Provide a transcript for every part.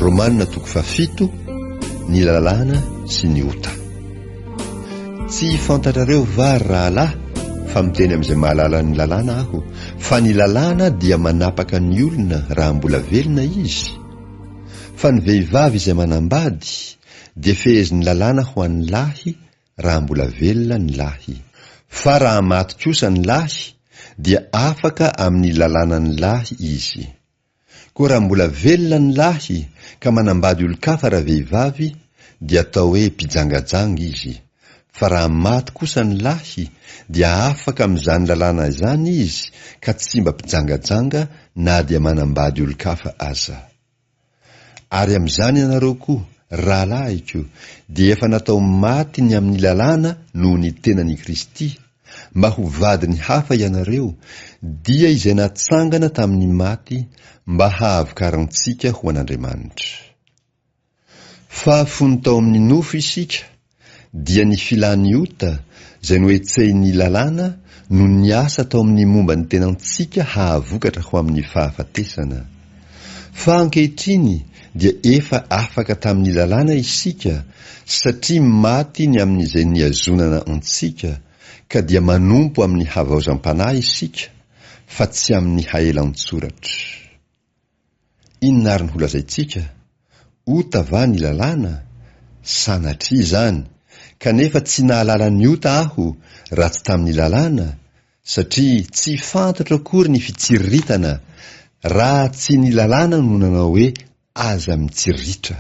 Romana toko fahafito, Ny lalàna sy ny ota. Tsy fantatrareo va ry rahalahy fa miteny amin'izay mahalala ny lalàna aho fa ny lalàna dia manapaka ny olona raha mbola velona izy? Fa ny vehivavy izay manambady dia fehezin'ny lalàna ho an'ny lahy raha mbola velona ny lahy. Fa raha maty kosa ny lahy dia afaka amin'ny lalànan'ny lahy izy. Koa raha mbola velona ny lahy ka manambady olon-kafa raha vehivavy dia atao hoe mpijangajanga izy, fa raha maty kosa ny lahy dia afaka amin'izany lalàna izany izy ka tsy mba mpijangajanga na dia manambady olon-kafa aza. Ary amin'izany ianareo koa, rahalahiko, dia efa natao maty ny amin'ny lalàna noho ny tenan'i Kristy, mba ho vadiny hafa ianareo, dia izay natsangana tamin'ny maty mba hahavokarantsika ho an'Andriamanitra. Fa fony tao amin'ny nofo isika, dia ny filan'ny ota, izay nohetsehin'ny Lalàna, no niasa tao amin'ny momba ny tenantsika hahavokatra ho amin'ny fahafatesana. Fa ankehitriny dia efa afaka tamin'ny lalàna isika satria maty ny amin'izay nihazonana antsika ka dia manompo amin'ny havaozam-panahy isika fa tsy amin'ny haelan-tsoratra. Inona ary ny holazaintsika? Ota va ny lalàna? Sanatria izany! Kanefa tsy nahalala ny ota aho raha tsy tamin'ny lalàna satria tsy fantatro akory ny fitsiriritana raha tsy ny lalàna no nanao hoe aza mitsirritra,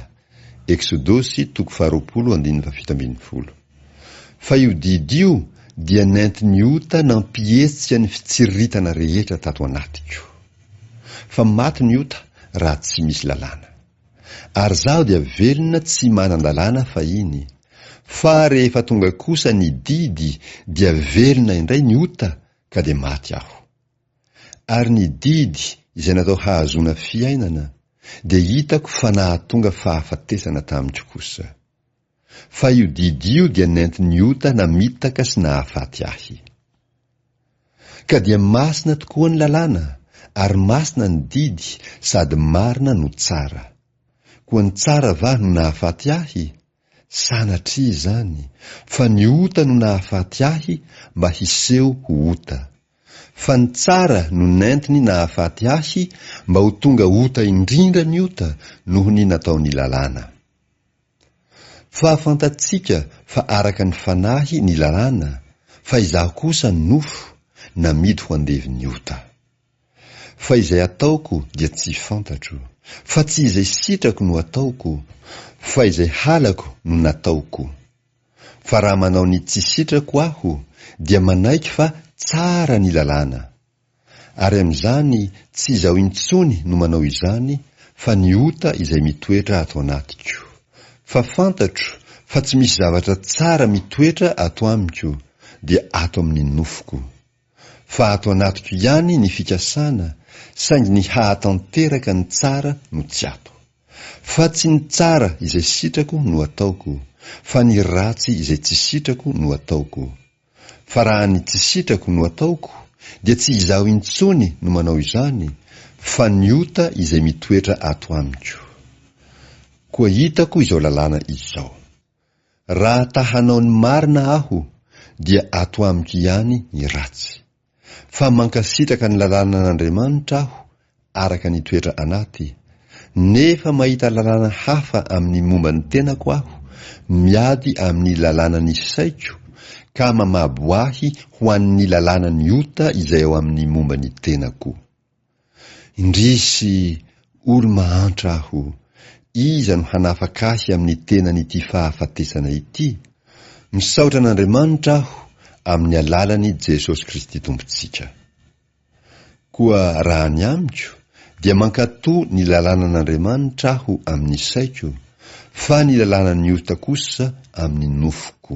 Eksodosy toko faharoapolo andininy fahafito ambin'ny folo. Fa io didy io dia nentin' ny ota nampihetsika ny fitsiriritana rehetra tato anatiko. Fa maty ny ota raha tsy misy lalàna. Ary zaho dia velona tsy manan-dalàna fahiny. Fa rehefa tonga kosa ny didy dia velona indray ny ota ka dia maty aho. Ary ny didy izay natao hahazoana fiainana dia hitako fa nahatonga fahafatesana tamiko kosa. Fa io didy io dia nentin'ny ota namitaka sy nahafaty ahy. Ka dia masina tokoa ny lalàna, ary masina ny didy, sady marina no tsara. Koa ny tsara va no nahafaty ahy? Sanatria izany, fa ny ota no nahafaty ahy mba hiseho ho ota. Fa ny tsara no nentiny nahafaty ahy mba ho tonga ota indrindra ny ota noho ny nataon'ny lalàna. Fa fantatsika fa araka ny fanahy ny lalàna, fa izaho kosa ny nofo, namidy ho andevin'ny ota. Fa izay ataoko dia tsy fantatro, fa tsy izay sitrako no ataoko, fa izay halako no nataoko. Fa raha manao ny tsy sitrako aho, dia manaiky fa tsara ny lalàna. Ary amin'izany tsy izaho intsony no manao izany fa ny ota izay mitoetra ato anatiko. Fa fantatro fa tsy misy zavatra tsara mitoetra ato amiko dia ato amin'ny nofoko. Fa ato anatiko ihany ny fikasana saingy ny hahatanteraka ny tsara no tsy ato. Fa tsy ny tsara izay sitrako no ataoko fa ny ratsy izay tsy sitrako no ataoko. Fa raha ny tsy sitrako no ataoko dia tsy izaho intsony no manao izany fa ny ota izay mitoetra ato amiko. Koa hitako izao lalàna izao. Raha ta hanao ny marina aho dia ato amiko ihany ny ratsy. fa mankasitraka ny lalànan'Andriamanitra aho araka ny toetra anaty, nefa mahita lalàna hafa amin'ny momba ny tenako aho, miady amin'ny lalànan'ny saiko, ka mamabo ahy ho an'ny lalànan'ny ota izay ao amin'ny momba ny tenako. Indrisy, olo-mahantra aho! Iza no hanafaka ahy amin'ny tenan'ity fahafatesana ity? Misaotra an'Andriamanitra aho amin'ny alalan'i Jesosy Kristy Tompontsika. Koa raha ny amiko, dia mankatò ny lalànan'Andriamanitra aho amin'ny saiko, fa ny lalànan'ny ota kosa amin'ny nofoko.